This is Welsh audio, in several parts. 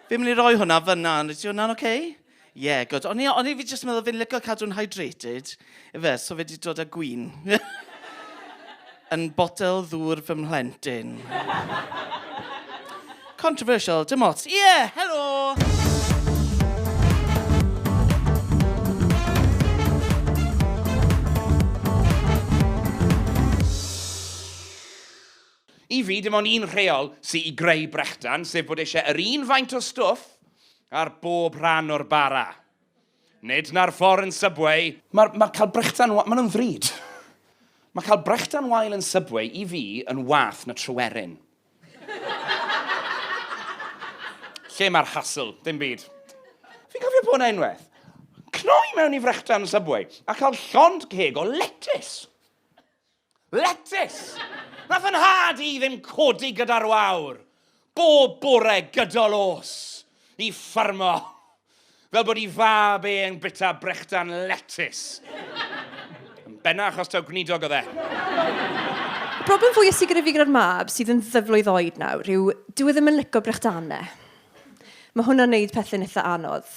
Fi'n mynd i roi hwnna fyna, ond ydy hwnna'n oce? Ie, gwd. O'n i, o'n i fi jyst yn meddwl fi'n licio cadw'n hydrated, ife, so fe di dod â gwin. yn botel ddŵr fy mhlentyn. Controversial, dim ots. Ie, yeah, helo! I fi, dim ond un rheol sy i greu brechdan, sef bod eisiau yr un faint o stwff ar bob rhan o'r bara. Nid na'r ffordd yn Subway. Mae'r mae cael brechdan wael, maen nhw'n ddrud. Mae cael brechdan wael yn Subway i fi yn wath na Tryweryn. Lle mae'r hassle? Dim byd. Fi'n cofio bod yna unwaith. Cnoi mewn i frechdan Subway a cael llond ceg o letys. Letys! Nath fy nhad i ddim codi gyda'r wawr bob bore gydol o's i ffarmo fel bod i fab e yn bita brechdan letys. Yn benna achos taw gwneudog oedd e. Y broblem fwya sy gyda fi gyda'r mab sydd yn ddyflwydd oed nawr yw dyw e ddim yn lico brechdanau. Mae hwnna'n neud pethau'n eitha anodd.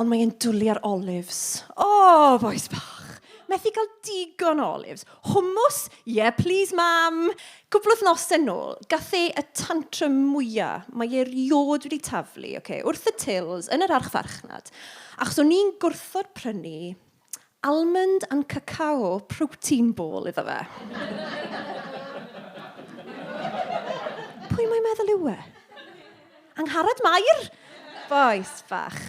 Ond mae e'n dwli ar olives. O, bois bach! Methu cael digon o olives. Hwmws? Ie, plis, Mam! Cwpl o wythnosau nôl, gath e y tantrum mwya. Mae e erioed wedi taflu, ocê, wrth y tills yn yr archfarchnad, achos o'n i'n gwrthod prynu Almond and Cacao Protein Ball iddo fe. Pwy mae'n meddwl yw e? Angharad Mair! Bois bach.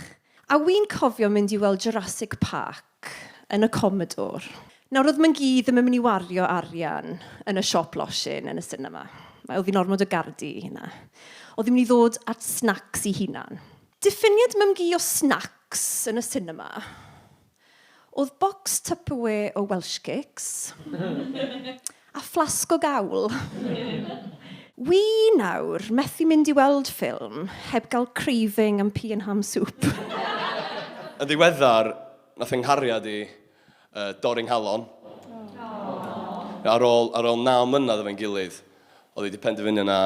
A wi'n cofio mynd i weld Jurassic Park yn y Commodore. Nawr, oedd Mangî ddim yn mynd i wario arian yn y siop losin yn y sinema. Oedd hi'n ormod o gardi i hynna. Oedd hi'n mynd i ddod at snacks i hunan. Diffiniad mymgu o snacs yn y sinema oedd bocs Tupperware o Welsh Cakes a fflasg o gawl. Wi nawr methu mynd i weld ffilm heb gael craving am pea and ham soup. Yn ddiweddar, nath fy nghariad i Uh, dorri nghalon. Oh. Ar ôl, ar ôl naw mlynedd efo'n gilydd, oedd wedi penderfynu na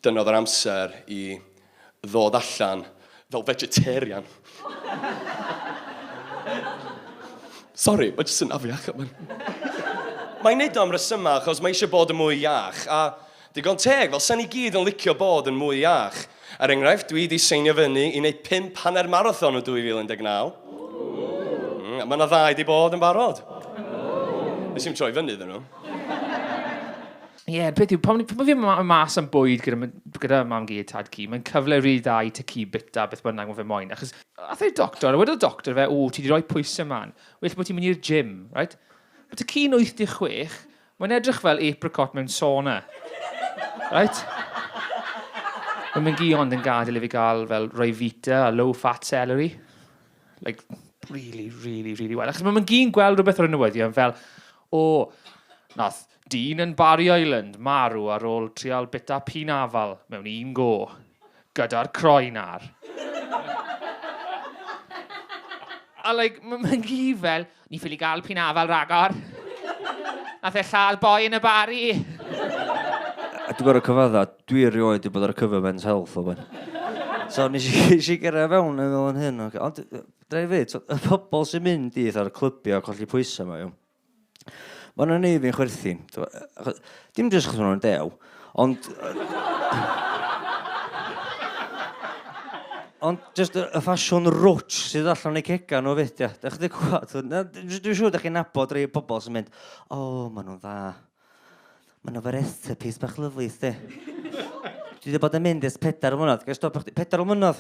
dyna oedd yr amser i ddod allan fel vegetarian. Sorry, mae jyst yn afiach. Mae'n neud o am resymau achos mae eisiau bod yn mwy iach, a Digon teg, fel sa'n ni gyd yn licio bod yn mwy iach. Er enghraifft, dwi 'di seinio fyny i wneud pump hanner marathon yn 2019. Mm, a mae yna ddau 'di bod yn barod. Nes i'm troi fyny iddyn nhw. Ie, yeah, peth yw, pan o'n fi'n mynd mas am bwyd gyda, m- gyda mam gi a tad gi, mae'n cyfle rili dda i ti ci bita beth bynnag mae fe moyn. Achos ath e i'r doctor, a wedodd y doctor fe, o, ti wedi rhoi pwysau man, well bod ti'n mynd i'r gym, right? Mae ti ci'n 86, Mae'n edrych fel apricot mewn sauna. Reit? Mae mae'n gi ond yn gadael i fi gael fel Ryvita a low fat celery. Like, really, really, really well. Achos mae mae'n gi'n gweld rhywbeth ar y newyddion fel, o, nath dyn yn Barry Island marw ar ôl trial bita pin afal mewn un go. gyda'r croen ar. A like, ma- mae'n hi fel, ni ffili gael p'un afal ragor. Nath e lladd boi yn y bari. A dwi'n gorau cyfadda, dwi erioed wedi bod ar y cyfer Men's Health o ben. So nes i, nes i gyrra fewn yn fel yn hyn, ocê. Ond, dra i ddeud, t'o', y pobol sy'n mynd i fatha'r clybiau colli pwysau 'ma, iawn? Mae'n o'n ei fi'n chwerthin. Dim jyst chos o'n dew, ond... Ond jyst y, y ffasiwn rwtsh sydd allan ei cega nhw fyd, ia. Dach chi 'di clywed? Dwi'n siŵr dach chi'n nabod rhai pobl sy'n mynd, "O, maen nhw'n dda." Mae yna Varetha piece bach lyflu i chdi. Dwi wedi bod yn mynd ers pedair o mlynedd. Gael stopio chdi? Pedair o mlynedd!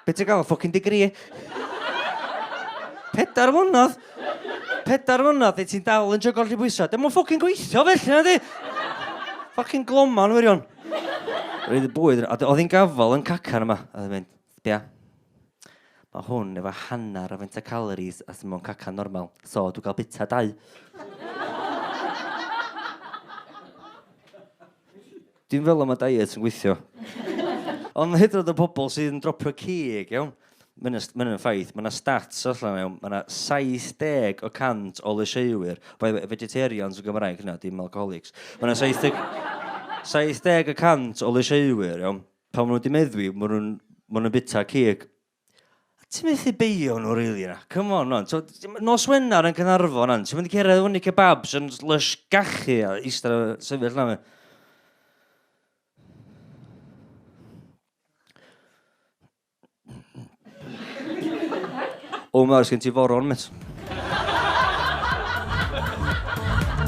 Be ti'n gael? Ffocin digri? Pedair o mlynedd! Pedair o mlynedd, ti'n dal yn jygol lle bwysau. Dim ond ffocin gweithio felly, na di? Ffocin gloman, wirion. Roedd y bwyd, oedd hi'n gafel yn cacan yma, oedd hi'n mynd. Ia. Mae hwn efo hanner o faint o calories as mewn cacan normal, so dwi'n cael bita dau. Dwi'n fel am y diet yn gweithio. Ond hyd yn oed y pobl sydd yn dropio cig, iawn, mae hyn yn ffaith, mae yna stats allan yna, iawn, mae yna 70 o 100 o lysieuwyr, by the way, vegetarians yn Gymraeg hynna, dim alcoholics, mae yna 70 70 y 100 o lysieuwyr, iawn, Pan maen nhw wedi meddwi, maen nhw'n ma nhw bita cig. Ti'n methu beio nhw rili na. Come on, on. So, nos Wener yn Cynarfon, an. Ti'n mynd i cerdded fyny kebabs yn lush gachu a eistedd a sefyll na. O, mae oes gen ti foron, met.